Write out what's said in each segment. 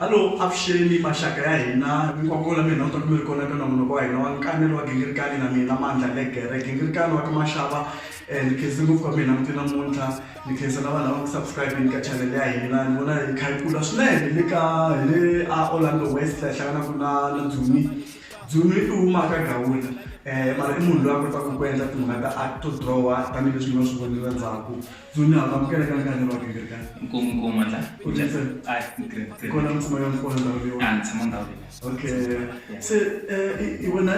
Hallo, avuxeni maxaka ya hina hinkwako la mina u ta mi ri kona ka nongonoko wa hina wa nkanelo wa gingirikani na mina mandla legere gingirikani wa ka maxava um ni khense ngopfu ka mina muti namuntlha ni khensa na vanhu lava ku subscribeni ka chanele ya hina ni vona hi kha yi kula swinene hi le ka hi le a orlando west la hi hlanganaku na na dzumi Dzungu i huma ka gawula um mara i munhu loyi a kotaka ku endla timhaka ta to drawa tanihileswi nga swi vonile ndzhaku dzungu ha amukela ka nkarhi wa gingirikani nkomu nkomu mandla kona mutshama ka kona ndhawu leyi a ni tshama ndhawu leyi okay se um i wena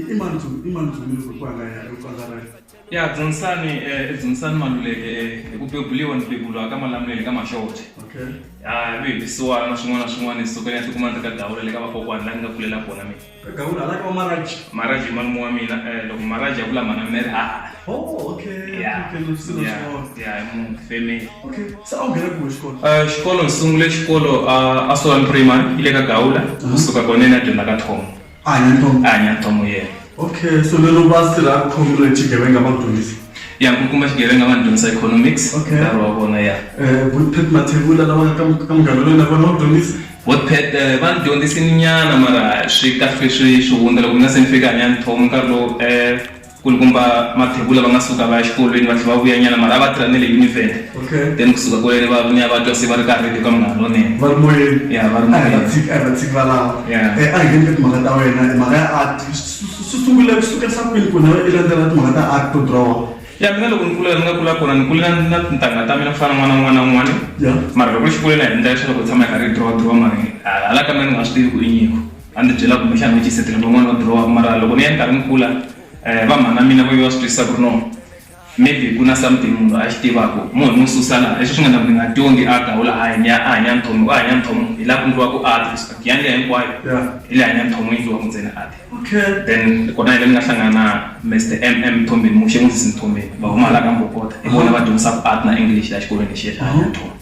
i mani dzungu i mani dzungu loko ku angaya ku angarhela ya dzingisani eh, dzingisani maluleke eh, hi ku bebuliwa ndzi bebuliwa ka malamuleni le ka maxoxe okay a mi hetisiwana na swin'wana na swin'wana sukani ya tikuma ndzi ka gawula le ka vakokwani laha ni nga kulela kona mina ka gawula la ka va maraji maraji i malume wa mina eh, loko maraji ya vula mhana meri ha oh okay ya okay no swi ya swona ya i munhu family okay se a wu nghena ku xikolo Eh, xikolo ni sungule xikolo ah, a solani primary yi le ka gawula kusuka kona ni ya dyondza ka thoma hanya ntomo hanya ntomo ye okay so lero va sira khomile xigevenga va dyondzisa ya ku kuma xigevenga va dyondzisa economics Okay. nkarhi wa vona ya um butpet mathevula lawa nga ka- ka munghana loyi na vona va dyondzisa wotpet va ni dyondzisini nyana mara swi kahle swi swi hundza loko ni nga se ni fika hanya ntomo nkarhi lowu um kulukumba mathebula va nga suka va ya xikolweni va tlhe va vuya nyana mara a va tirha ne le univen then kusuka kwene va vunya va twa se va ri ka radio ka munghana lonene va ri moyeni ya va ri moyenivatshiki va lawa eh, a hi endle timhaka ta wena eh, mhaka ya art swi sungule ku suka sa kwini ku nawe i landzela timhaka ta art to drawer ya mina loko ni kula ni nga kula kona ni kule na tintangha ta mina ku fana n'wana n'wana n'wana mara loko xikolweni a hi ndlela swa loko tshama hi karhi hi drawa drawa mara hala ka mina ni nga swi tivi ku i nyiko a ni byela kumbexana ni chisetele van'wana va dirowaka mara loko ni ya ni karhi ni kula um va mhana mina va ve va swi twisisa ku ri no maybe ku na something munhu a xi tivaka mo hi n'wi susa laha leswi swi nga na ni nga dyondzi a gawula a hi ni ya a hanya ni thomi a hanya ni thomi hi laha ku endliwaka ku art ya ni leyi hinkwayo hi le hanya ni thomi yi endliwaka ntsena art then kona hi le ni nga hlangana na Mister M_M Thombeni muxe Moses Thombeni va huma laha ka Mbokota hi vona va dyondzisaka art na English laha xikolweni lexiya xa hanya ni thomi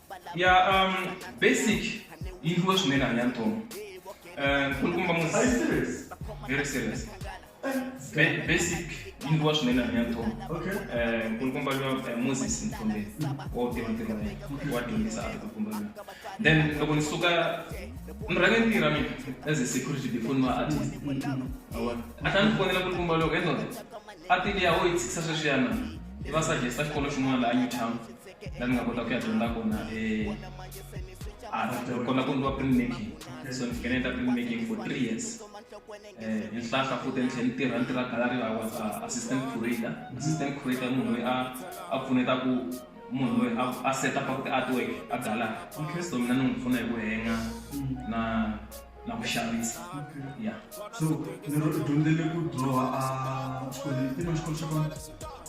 ya um basic yi ndliwa swinene hanya ntomo um nkulukumba very serious basic yi ndliwa swinene hanya ntomo um nkulukumba lwa eh, moses mthombeni wa tiva ntirho wa yena wa dyondzisa a nkulukumba lwa then loko ni suka ni rhange ni tirha mina as a security before ni va artist a ta ni fonela nkulukumba loko endoda a tiliya wo yi tshikisa sweswiyana i va suggesta xikolo xin'wana laha newtown Then nga kota ku ya dyondza kona e kona ku endliwa print making so ni fike ni endla print making for three years um ni hlahla futhi ni tlhela ni tirha ni tirha gallery i was assistant curator assistant curator munhu loyi a a pfuneta ku munhu loyi a set up-a ku ti-artwork a gallery so mina ni n'wi pfuna hi ku henga na na ku xavisa ya so ndzi ri u dyondzele ku dzoha a xikolweni i tiva xikolo xa kona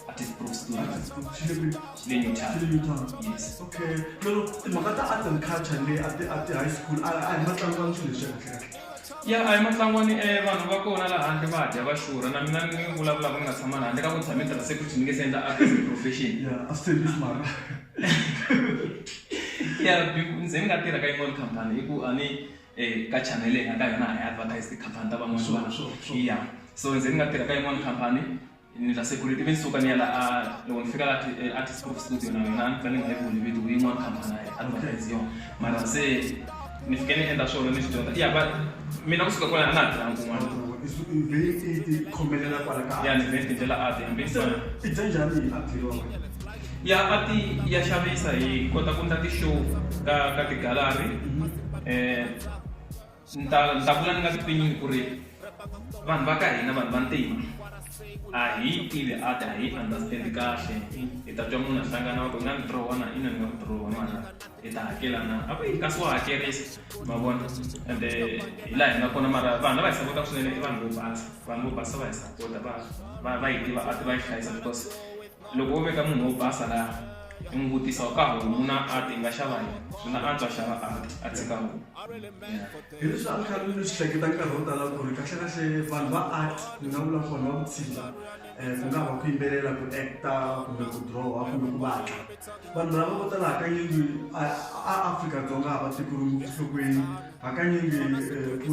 artist prof student xi le kwihi xi le new town xi le new town yes okay lero timhaka ta art and culture le a ti a ti high school a a hi matlangwani swilo leswi kahle ya a hi matlangwani um vanhu va kona laha handle va dya va xurha na mina ni vulavulaka ni nga tshama na handle ka ku tshame ni tirhise ku ni nge se endla artist profession ya a swi tshembisi mara ya ndzi nga tirha ka yin'wana khampani hi ku a ni um ka channel leyi nga ka yona hi advertise tikhampani ta van'wana ya so ndzi nga tirha ka yin'wana khampani ni la security ivi ni suka ni ya la a loko ni fika la artist proof studio na yona a ni fane ni nga yi vuli vito yin'wana khampani a yi advertise yona mara se ni fike ni endla swona ni swi dyondza ya va mina kusuka kwala a na ha tirhangi kun'wana khomelela kwala ka ya ni vhe tindlela a ti hambi i dya njhani a ya a ti ya xavisa hi kota ku endla ti-show ka ka ti-gallery um ni ta ni ta vula ni nga ti pfinyini ku ri vanhu va ka hina vanhu va ntima a hi yi tivi art a hi understand kahle hi ta twa munhu a hlangana va ku nga ni drawa na ina ni nga ku drawa mara hi ta hakela na a ku yi kasi wa hakerisa ma vona ende hi laha hi nga kona mara vanhu lava hi sapota swinene i vanhu vo basa vanhu vo basa va hi sapota va va va yi tiva art va yi hlayisa because loko wo veka munhu wo basa laha i n'wi vutisa u ka homu na ati i nga xava yini swi nga antswa xava ati a tshika homu hi leswi a khale ni swi hleketa nkarhi wo tala ku ri kahlekahle vanhu va art ni nga vula kona va vutshila um ku nga va ku yimbelela ku acta kumbe ku drawa kumbe ku vatla vanhu lava vo tala hakanyingi a afrika dzonga va tekeriwi nhlokweni hakanyingi eh, ku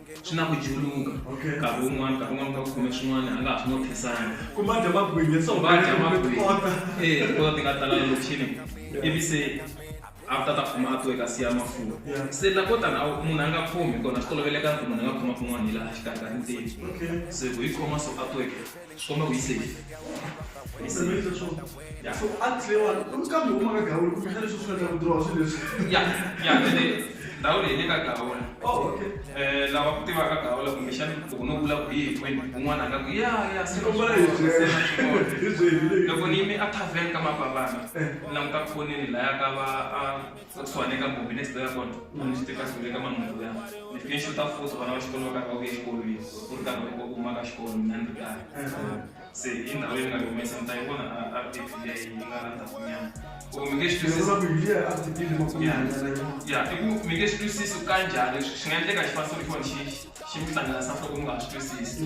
swi na ku juluka nkarhi wun'wana nkarhi wun'wana ka ku khome swin'wana a nga ha swi notisanga ku ma dya magwinya so va dya magwinya eh kota ti nga talana no chini ivi se a ta ta khoma a to eka siya mafulo se la ko tani munhu a nga khomi kona swi toloveleka ku munhu a nga khoma kun'wana hi laha xikarhi ka tintimu se ku yi khoma so a to eka Xikoma ku yi save. Yi save leswo. Ya. So a tlhe wa u kambe u maka gawula ku fihla leswi swi nga ta ku draw swilo leswi. Ya, ya, le ndhawu leyi le ka gawula. Oh, okay. Eh lava ku tivaka gawula kumbe xana loko no vula ku hi kwini un'wana a nga ku ya ya se u vona hi byela. Hi byela. Loko ni yime a tavern ka mababana ni languta khoneni laya ka va a va tshwane ka bobi next day ya kona u ni xiteka xivule ka mama loya ni fike xi ta fusa vana va xikolo va karhi va vuye exikolweni ku ri karhi va kuma ka xikolo mina ni ri kaya se i ndhawu leyi nga yi humesa ni ta yi vona a ri tefile yi nga rhandza kunyana loko mi nge xi twisisi ya i ku mi nge xi twisisi ka njhani swi nga endleka xi fanisa ku xona xi xi mi hlanganisa loko mi nga swi twisisi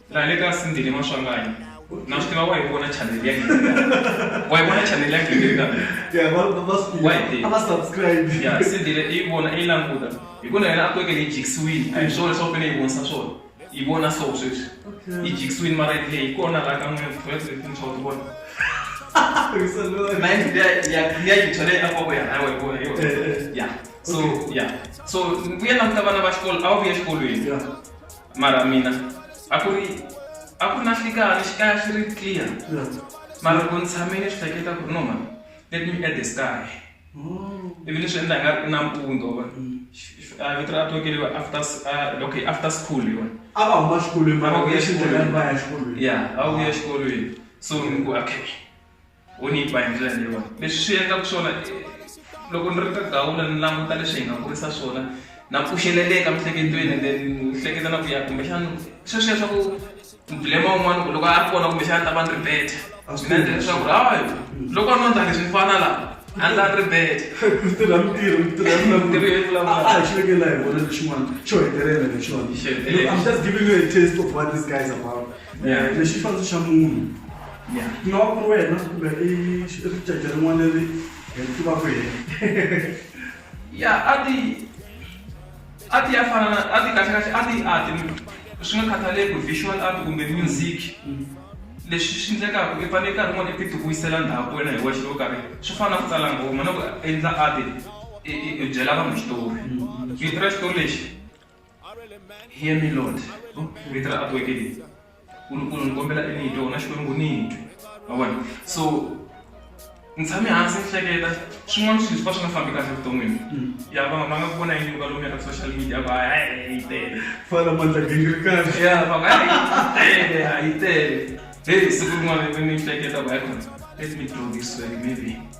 laha le ka sindile maswanganyi na swi tiva wa yi vona chanel ya wa yi vona chanel ya gingiri kambe ya sindile i vona i languta hi ku na yena a kweke ni jiksiwini a hi swona leswaku fene yi vonisa swona yi vona so sweswi yi jiksiwini mara yi leyi kona laha ka n'wini twelve thirteen twelve vona nine ya yi thole ya koko ya hawa yi vona yo eh, eh. ya so ya so vuya languta vana va xikolo a va vuya exikolweni mara mina a ku ri a ku na hlikani xi kaya xi ri clear mara loko ni tshame ni swi hleketa ku ri no mhana let me add a sky mm. ivi ni swi endla hi nga ri na mpundwa wa vito ra tokeliwa after okay after school yona a va huma xikolweni va ya xikolweni ya a va vuya xikolweni so ni ku okay wo ni ba hi ndlela leyiwani leswi swi endlaka swona loko ni ri ka gawula ni languta leswi hi nga kurisa swona na pfuxeleleka mihleketweni and then ni hleketa na ku ya kumbexana sweswi ya swa ku mblema un'wana ku loko a ri kona kumbexana ta va ni ri beta mina ndlela leswaku ri hayi loko a no ndla leswi ni fana laha a ndla ni ri beta tirha mitirho mitirho yo vulavula a hi xivekela hi vona lexin'wana xo hetelela lexiwani i'm just giving you a taste of what this guy is about eh, lexi xifaniso xa munhu ku nga va ku ri wena kumbe i ricaja rin'wana leri hi ri tivaka yena ya a ti a ti ya fana na a ti kahlekahle a ti a ti swi nga khathaleki visual art kumbe music mm. leswi swi endlekaka i fanele nkarhi wun'wana i ti vuyisela ndhawu wena hi wexe wo karhi swi fana na ku tsala ngoma na ku endla adi i byela vanhu xitori vito ra xitori lexi Hear me, Lord. Oh, rito ra atweke leri. Nkulunkulu ni kombela i ni tona Xikwembu ni twe. Ma vona? So ni tshame hansi ni hleketa swin'wana swilo swi va swi nga fambi kahle evuton'wini. Ya va va nga ku vona yini ka lomu ya ka social media va ha yi tele. Fana mandla gingirikana. Ya va nga yi tele ha yi tele. Hey siku rin'wana ni hleketa va khona. Let me draw this way maybe.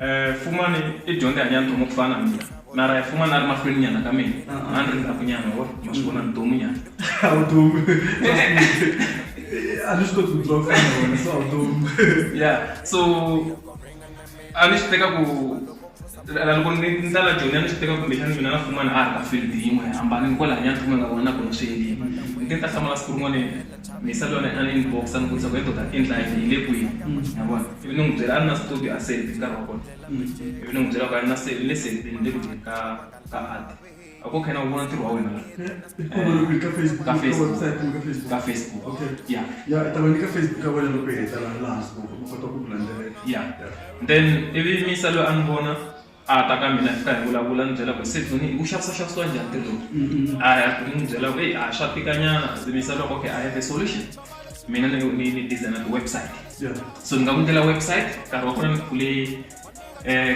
Eh, fumane i dyondza ya nyana tomo ku fana mina mara ya fumane a ri mahlweni nyana ka mina a ni ri ndzhaku nyana wa ma swi vona ni domu nyana a wu domu a ni swi koti ku twa ku fana wena so a wu domu ya so a ni swi teka ku loko ni ndlala dyondza a ni swi teka kumbexani mina na fumane a ri ka field yin'we hi hambane ni kwala nyana tomo nga vona nakona swi helini ni te ni ta hlamala siku rin'wana Misa lona a ni ni boxa ni vutisa ku endoda endlayi yi le kwihi ya vona ivi ni n'wi byela a ni na studio a sebi nkarhi wa kona ivi ni n'wi byela ku a ni na sebi ni le sebi ni le ku dyeni ka ka art a ko khena u vona ntirho wa wena la ka facebook ka facebook ya ya ta va nyika facebook ya wena loko hi hetela laha u kota ku landzelela ya then ivi misa loyi a ni vona a ta ka mina a fika hi vulavula ni byela ku se Johnny u xavisa xavisiwa njhani ntirho lowu a ya ni n'wi byela ku eyi a swa tikanyana ndzi misa loko okay I have a solution mina ni ni ni designer ti-website so ni nga ku endlela website nkarhi wa kona ni pfule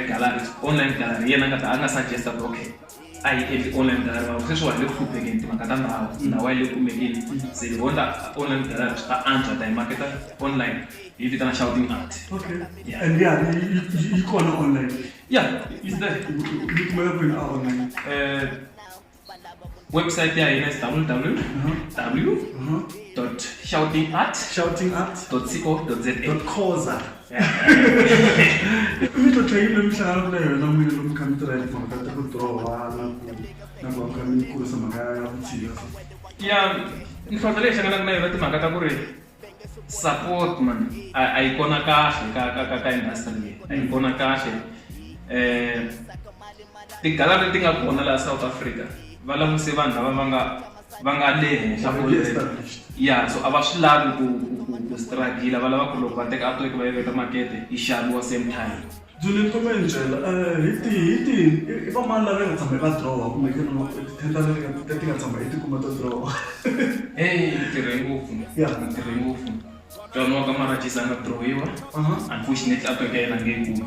gallery online gallery hi yena a nga ta a nga suggest-a ku okay a hi endli online gallery wa sweswi wa ha le ku hluphekeni timhaka ta ndhawu ndhawu ya le kumekini se ni vonda online gallery swi ta antswa ta yi maketa online hi vitana shouting art okay yeah. and yeah yi kona online yeah is there yi kumeka kwini a online eh website ya hina is www uh-huh. dot shouting art shouting art dot co dot za dot coza i mintlhontlho yi leyi mi hlanganaka na yona n'wini lomu kha mi tirha hi timhaka ta ku doroha na ku na ku va mi kha mi kurisa mhaka ya vutshila ya mintlhontlho leyi hlanganaka na yona timhaka ta ku ri support man a yi kona kahle ka ka ka ka industry leyi a yi kona kahle um tigala leti nga kona laha south africa va languse vanhu lava va nga va nga le henhla ya so a va swi lavi ku ku struggle va lava ku loko va teka atweke va yi veka makete yi xaviwa same time Juni khome njela eh, hi ti hi ti i va mani lava nga tshama eka drawer kumbe ke no tenda leri nga ti nga tshama hi ti kuma ta drawer hey tirhe ngopfu ya tirhe ngopfu twanwa ka marajisa nga drawiwa unfortunately atweke yena nge kuma